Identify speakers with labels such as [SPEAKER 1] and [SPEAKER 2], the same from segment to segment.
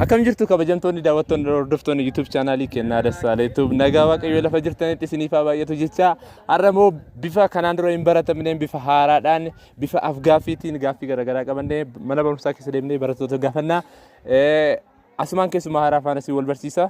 [SPEAKER 1] Akkam jirtu kabajamtoonni daawwattoonni hordoftoonni YouTube chaanaalii kennaa Dassaalee Tube nagaa waaqayyoo lafa jirtanitti isiniif haa baay'atu jecha har'a immoo bifa kanaan dura hin baratamneen bifa haaraadhaan bifa afgaaffiitiin gaaffii garaagaraa qabannee mana barumsaa keessa deemnee barattoota gaafannaa. Asumaan keessumaa haaraa faana si wal barsiisa.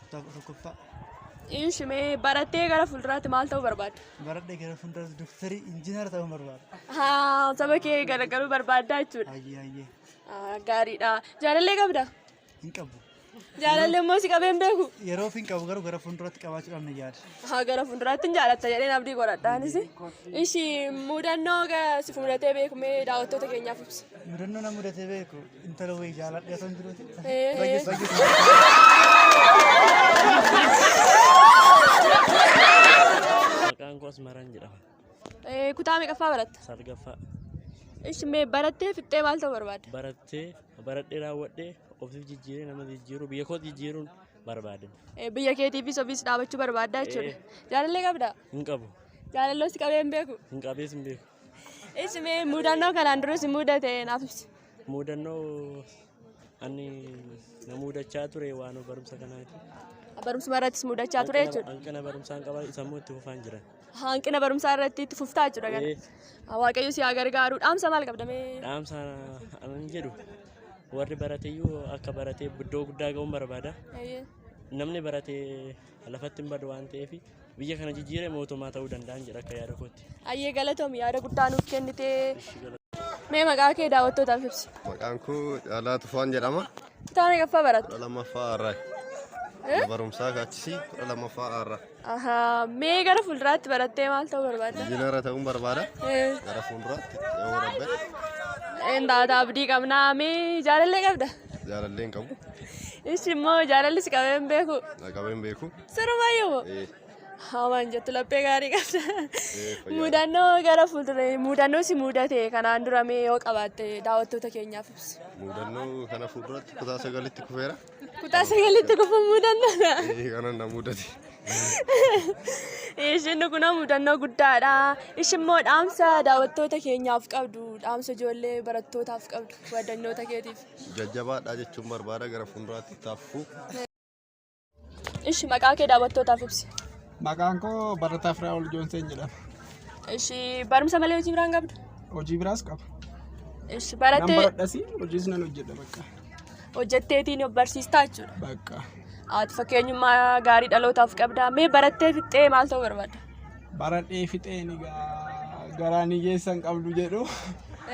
[SPEAKER 2] Kutaa kudha tokkoffaa
[SPEAKER 3] Inshi
[SPEAKER 2] mee barattee gara fuulduraatti maal ta'uu barbaadda? baradhee gara fuulduraatti
[SPEAKER 3] doktarii injiinara ta'uu barbaada. Haa, saba kee
[SPEAKER 2] gargaaruu barbaaddaa jechuudha. Hayyee hayyee Haa,
[SPEAKER 3] Gaariidha.
[SPEAKER 2] Jaalallee qabda? hin qabu.
[SPEAKER 3] Jaalallee immoo
[SPEAKER 2] si qabeen beeku? Yeroof hin qabu garuu gara
[SPEAKER 3] fuulduraatti qabaachuudhaan na yaada. Haa, gara fuulduraatti hin
[SPEAKER 2] jaalatta jedheen abdii godhadhaanis. Ishi mudannoo ga- si fuudatee beeku mee daawwattoota keenyaaf ibsi. Mudannoo na mudatee
[SPEAKER 3] beeku Intala wayii jaaladhee osoo hin
[SPEAKER 4] jiruuti. Maqaan koo Asmaraan jedhama. Kutaa
[SPEAKER 2] meeqaffaa baratta? Salgaffaa
[SPEAKER 4] Ishi mee
[SPEAKER 2] barattee fixxee maal ta'uu barbaadda? barattee baradhee
[SPEAKER 4] raawwadhee ofiif jijjiiree nama jijjiiruu biyya koo jijjiiruun barbaade. Eh, Biyya keetiifis
[SPEAKER 2] ofiis dhaabachuu barbaadda jechuudha. Eh. Jaalallee qabda? Hin qabu.
[SPEAKER 4] Jaalalloos qabee hin
[SPEAKER 2] beeku. Hin qabees hin beeku.
[SPEAKER 4] Ishi mee
[SPEAKER 2] mudannoo kanaan duras hin mudate naaf ibsi. Muudannoo
[SPEAKER 4] ani na muudachaa ture waan barumsa kanaati. Barumsuma irrattis
[SPEAKER 2] muudachaa ture jechuudha. Hanqina barumsaan qaba
[SPEAKER 4] sammuu itti fufaan jira. Hanqina barumsaa
[SPEAKER 2] irratti itti fuftaa jechuudha kana. Eh, Waaqayyo si haa gargaaru. Dhaamsa maal qabda mee? Dhaamsa
[SPEAKER 4] anan jedhu warri barateyyuu akka baratee iddoo guddaa ga'uun barbaada. Namni baratee lafatti hin badu waan ta'eef biyya kana jijjiiree mootummaa ta'uu danda'an jedha akka yaada kootti. Ayyee galatoom yaada
[SPEAKER 2] guddaa nuuf kennite. Mee maqaa kee daawwattootaaf ibsi. Maqaan koo
[SPEAKER 5] Caalaa Tufaan jedhama. Kutaa meeqaffaa
[SPEAKER 2] baratta? Kudha lammaffaa har'aa.
[SPEAKER 5] Mana barumsaa kaachisii kudha lammaffaa har'aa. Ahaa, Mee
[SPEAKER 2] gara fuulduraatti barattee maal ta'uu barbaadda? Injiinara ta'uun barbaada.
[SPEAKER 5] Eh, Gara fuulduraatti yoo rabbe Hin taata
[SPEAKER 2] abdii qabnaa. Mee jaalallee qabda? jaalallee hin qabu.
[SPEAKER 5] Ishi immoo
[SPEAKER 2] jaalalli si qabee hin beeku. Na qabee hin beeku.
[SPEAKER 5] Sirbaayyo moo?
[SPEAKER 2] Eh, Hawaan jettu laphee gaarii qabda. eh, fayyaa. Mudannoo gara fuulduree mudannoo si mudate kanaan dura mee yoo qabaatte daawwattoota keenyaaf ibsi. Mudannoo kana
[SPEAKER 5] fuulduratti kutaa sagalitti kufeera. Kutaa sagalitti
[SPEAKER 2] kufuun mudannoodha. Eh, Kana na mudate. Ishiin kun mudannoo guddaadha. Ishiin immoo dhaamsa daawwattoota keenyaaf qabdu, dhaamsa ijoollee barattootaaf qabdu, wadannoota keetiif. Jajjabaadhaa jechuun
[SPEAKER 5] barbaada gara fuulduraatti itti hafu. Ishi
[SPEAKER 2] maqaa kee daawwattootaaf ibsi. Maqaan koo
[SPEAKER 6] Barataa Firaa'ol Joonseen jedhama. Ishi
[SPEAKER 2] barumsa malee hojii biraan qabdu. Hojii biraas qaba.
[SPEAKER 6] Ishi Nan
[SPEAKER 2] barattee baradhasi hojiis
[SPEAKER 6] nan hojjedha bakka. hojjetteetiin
[SPEAKER 2] of barsiistaa jechuudha. Bakka.
[SPEAKER 6] Ati fakkeenyummaa
[SPEAKER 2] gaarii dhalootaaf qabda. Mee barattee fixxee maal ta'uu barbaadda? baradhee
[SPEAKER 6] fixeen egaa garaan hiyyeessa hin qabdu jedhu.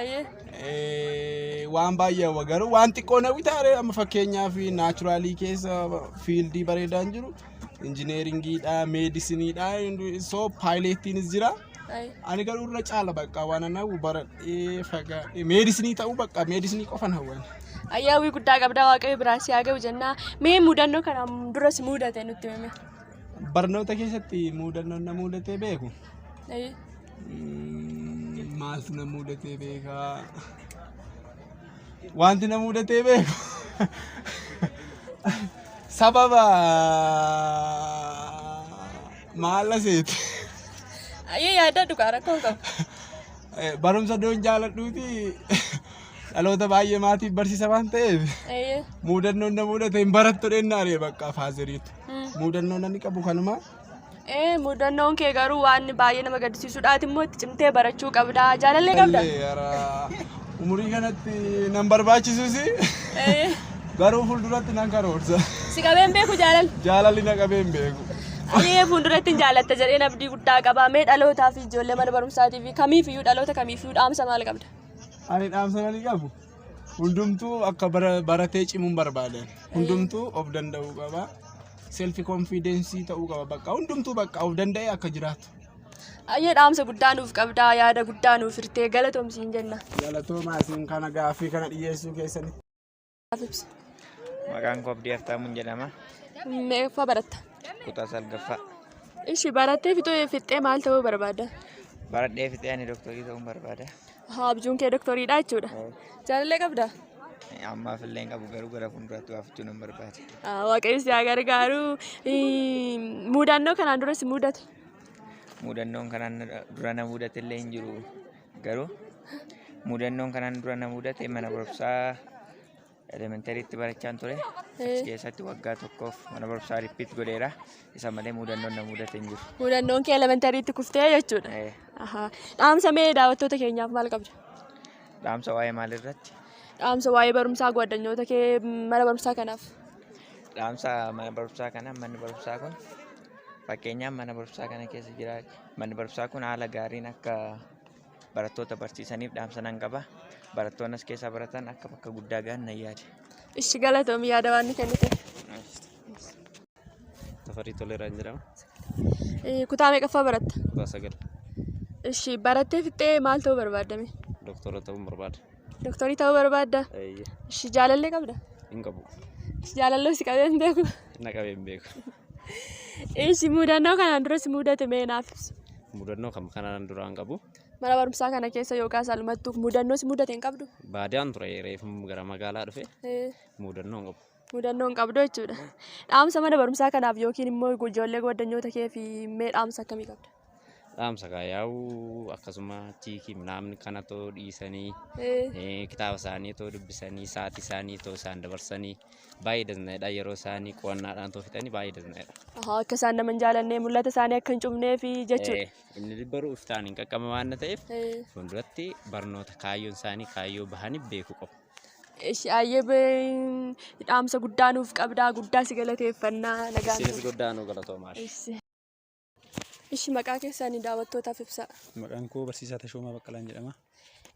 [SPEAKER 6] Eeyyee. Eh, waan baay'ee hawwa garuu waan xiqqoo na bitaare amma fakkeenyaaf naachuraalii keessa fiildii bareedaan jiru injineeringiidha meedisiniidha soo paayileettiinis jira Ayi. ani garuu irra caala bakka waan ana hawwu baradhee fagaadhee meedisinii ta'uu bakka meedisinii qofan hawwan Ayyaawwii guddaa
[SPEAKER 2] qabdaa waaqayyo biraan si haa ga'u jennaa. Mee mudannoo kana duras mudate nutti hime. Barnoota
[SPEAKER 6] keessatti muudannoon na muudatee beeku. Ee, Mm, Maaltu na muudatee beeka? Wanti na muudatee beeku. Sababa maala seeti. Ayyee
[SPEAKER 2] yaadaa dhugaa rakkoo hin qabu. Eh,
[SPEAKER 6] Barumsa doon jaaladhuuti dhaloota baay'ee maatiif barsiisa waan ta'eef Ayyee. muudannoon na muudate hin barattu dhennaa ree bakka faaziriitu. Muudannoon ani qabu kanuma. Ee muudannoon
[SPEAKER 2] kee garuu waan baay'ee nama gaddisiisudha. Ati immoo itti cimtee barachuu qabda. Jaalallee qabda? Tallee yaraa.
[SPEAKER 6] Umurii kanatti nan barbaachisus Ee, garuu fuulduratti nan karoorsa. Si qabeen beeku
[SPEAKER 2] jaalal. Jaalalli na qabee hin
[SPEAKER 6] beeku. Ee fuulduratti
[SPEAKER 2] hin jaalatta jedheen abdii guddaa qaba. Mee dhalootaa fi ijoollee mana barumsaatii fi kamiifiyyuu dhaloota kamiifiyyuu dhaamsa maal qabda? Ani dhaamsa
[SPEAKER 6] ani qabu. Hundumtuu akka bara- baratee cimuun barbaada. Hundumtuu of danda'uu qaba. Selfi konfiidensii ta'uu qaba. Bakka hundumtuu bakka of danda'ee akka jiraatu. Ayyee
[SPEAKER 2] dhaamsa guddaa nuuf qabdaa yaada guddaa nuuf hirtee galatoomsiin jenna. Galatoomaa isin
[SPEAKER 6] kana gaaffii kana dhiyeessuu keessaniif.
[SPEAKER 7] Maqaan koo Abdii Haftaamuun jedhama. Meeqaffaa
[SPEAKER 2] baratta? Kutaa salgaffaa.
[SPEAKER 7] Ishi
[SPEAKER 2] barattee
[SPEAKER 7] fixee
[SPEAKER 2] fixxee maal
[SPEAKER 7] ta'uu
[SPEAKER 2] barbaadda? Baradhee
[SPEAKER 7] fixee
[SPEAKER 2] ani doktorii
[SPEAKER 7] ta'uun
[SPEAKER 2] barbaada.
[SPEAKER 7] Haa
[SPEAKER 2] abjuun kee doktoriidha jechuudha. Jaalallee qabda? Ammaaf
[SPEAKER 7] illee hin qabu garuu gara fuulduraatti waa fudhachuu nan barbaada. Ah, Waaqayyo si haa
[SPEAKER 2] gargaaru. Ii, Mudannoo kanaan duras mudate. Mudannoon
[SPEAKER 7] kanaan na- dura na mudate illee hin jiru garuu mudannoon kanaan dura na mudate mana barumsaa Elementariitti barachaan ture. Achi keessatti waggaa tokkoof mana barumsaa rippiit godheera. Isa malee muudannoon na mudate hin jiru. Muudannoon kee elementariitti
[SPEAKER 2] kuftee jechuudha. Eh, Ahaa. Dhaamsa mee daawwattoota keenyaaf maal qabda? Dhaamsa
[SPEAKER 7] waa'ee maalirratti? Dhaamsa waa'ee
[SPEAKER 2] barumsaa gwaaddanyoota kee mana barumsaa kanaaf. Dhaamsa
[SPEAKER 7] mana barumsaa kana manni barumsaa kun fakkeenyaaf mana barumsaa kana keessa jira. Manni barumsaa kun haala gaariin akka barattoota barsiisaniif dhaamsa nan qaba. Barattoonni as keessaa baratan akka bakka guddaa gahan nan yaade. Ishi galatoomi
[SPEAKER 2] yaada waan kennite.
[SPEAKER 8] Tafarii Toleeraan jedhama.
[SPEAKER 2] Kutaa meeqaffaa baratta? Kutaa sagal.
[SPEAKER 8] Ishi
[SPEAKER 2] barattee fixxee maal ta'uu barbaaddame? Doktora ta'uun
[SPEAKER 8] barbaada. Doktorii ta'uu
[SPEAKER 2] barbaadda? Ishi jaalallee qabda? Hin qabu.
[SPEAKER 8] Jaalallee si
[SPEAKER 2] qabee hin beeku? Na qabee hin beeku.
[SPEAKER 8] Ishi
[SPEAKER 2] mudannoo kanaan duras mudate mee naaf ibsi. Mudannoo kam kanaan
[SPEAKER 8] duraan qabu. Mana barumsaa kana
[SPEAKER 2] keessa yookaan salmattuuf mudannoo si mudate hin qabdu? Baadiyaan ture reefu
[SPEAKER 8] gara magaalaa dhufe mudannoo hin qabu. Mudannoo hin qabdu
[SPEAKER 2] jechuudha. Dhaamsa mana barumsaa kanaaf yookiin immoo ijoollee goddanyoota keef mee dhaamsa akkamii qabda? dhaamsa kaa
[SPEAKER 8] yaa'u akkasuma chiikii naamni kana too dhiisanii eh, kitaaba isaanii too dubbisanii sa'aatii isaanii too isaan dabarsanii baay'ee dandaa'edha yeroo isaanii qo'annaadhaan too fixanii baay'ee dandaa'edha. Ahaa, akka isaan nama hin
[SPEAKER 2] jaalannee mul'ata isaanii akka hin cufnee fi jechuudha. Eh, Inni dubbaruu iftaan
[SPEAKER 8] hin qaqqabe waan ta'eef Eh, fuulduratti barnoota kaayyoon isaanii kaayyoo bahanii beekuu qabu. Ishi ayyee bee-
[SPEAKER 2] dhaamsa guddaa nuuf qabdaa guddaa si galateeffannaa nagaan Isinis guddaa nu galatoomaa.
[SPEAKER 8] Ishi.
[SPEAKER 2] Ishi maqaa keessanii daawwattootaaf ibsaa. Maqaan koo barsiisaa
[SPEAKER 9] Tashoomaa Baqqalaan jedhama.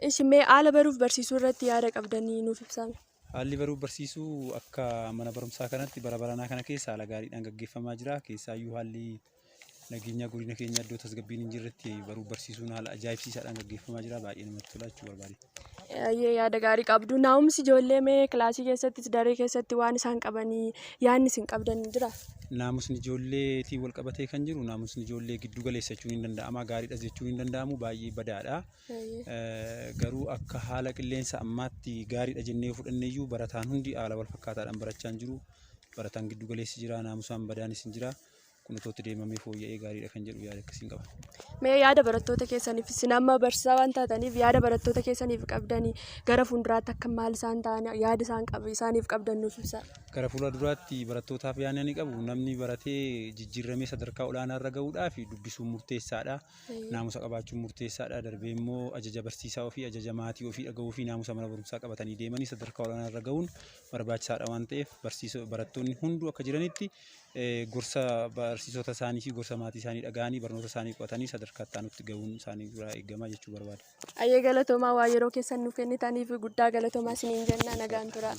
[SPEAKER 9] Ishi mee
[SPEAKER 2] haala baruuf barsiisuu irratti yaada qabdanii nuuf ibsaa. Haalli baruuf
[SPEAKER 9] barsiisuu akka mana barumsaa kanatti bara baranaa kana keessa haala gaariidhaan gaggeeffamaa jira. Keessaayyuu haalli nageenyaa godina keenya iddoo tasgabbiin hin jirretti baruuf barsiisuun haala ajaa'ibsiisaadhaan gaggeeffamaa jira. Baay'ee namatti tola jechuu barbaade. Ayyee yaada
[SPEAKER 2] gaarii qabdu. Naa'umsi ijoollee mee kilaasii keessattis daree keessatti waan isaan qabanii yaadni isin qabdan jira? Naamusni
[SPEAKER 9] ijoolleetiin wal qabatee kan jiru naamusni ijoollee giddu galeessa jechuun hin danda'ama gaariidhas jechuun hin danda'amu baay'ee badaadha. Eh, Garuu akka haala qilleensa ammaatti gaariidha jennee yoo fudhanne iyyuu barataan hundi haala wal fakkaataadhaan barachaa hin jiru. Barataan giddu galeessi jira naamusaan badaanis hin jira. kun otoo itti deemamee fooyya'ee gaariidha kan jedhu yaada akkasiin qaba. Mee yaada barattoota
[SPEAKER 2] keessaniif isin amma barsiisaa waan taataniif yaada barattoota keessaniif qabdanii gara fuulduraatti akka maal isaan ta'an yaada isaan qab- isaaniif qabdan nuuf ibsaa. Gara fuula duraatti
[SPEAKER 9] barattootaaf yaadni ani qabu namni baratee jijjiirramee sadarkaa olaanaa irra gahuudhaaf dubbisuun murteessaadha. Naamusa qabaachuun murteessaadha. Darbee immoo ajaja barsiisaa ofii, ajaja maatii ofii dhagahuu fi naamusa mana barumsaa qabatanii deemanii sadarkaa olaanaa irra gahuun barbaachisaadha waan ta'eef barsiisoo barattoonni hunduu akka jiranitti gorsa barsiisota isaanii fi gorsa maatii isaanii dhaga'anii barnoota isaanii qo'atanii sadarkaa itti aanutti ga'uun isaanii irraa eegama jechuu barbaada. Ayyee galatoomaa
[SPEAKER 2] waa yeroo keessan nu kennitaniif guddaa galatoomaa isiniin jenna nagaan tura.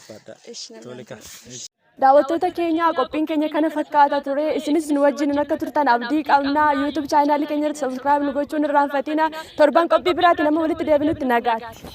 [SPEAKER 2] Daawwattoota keenya qophiin keenya kana fakkaata ture isinis nu wajjin akka turtan abdii qabna YouTube chaanaalii keenya irratti subscribe nu gochuun irraanfatina torban qophii biraatiin amma walitti deebinutti nagaatti.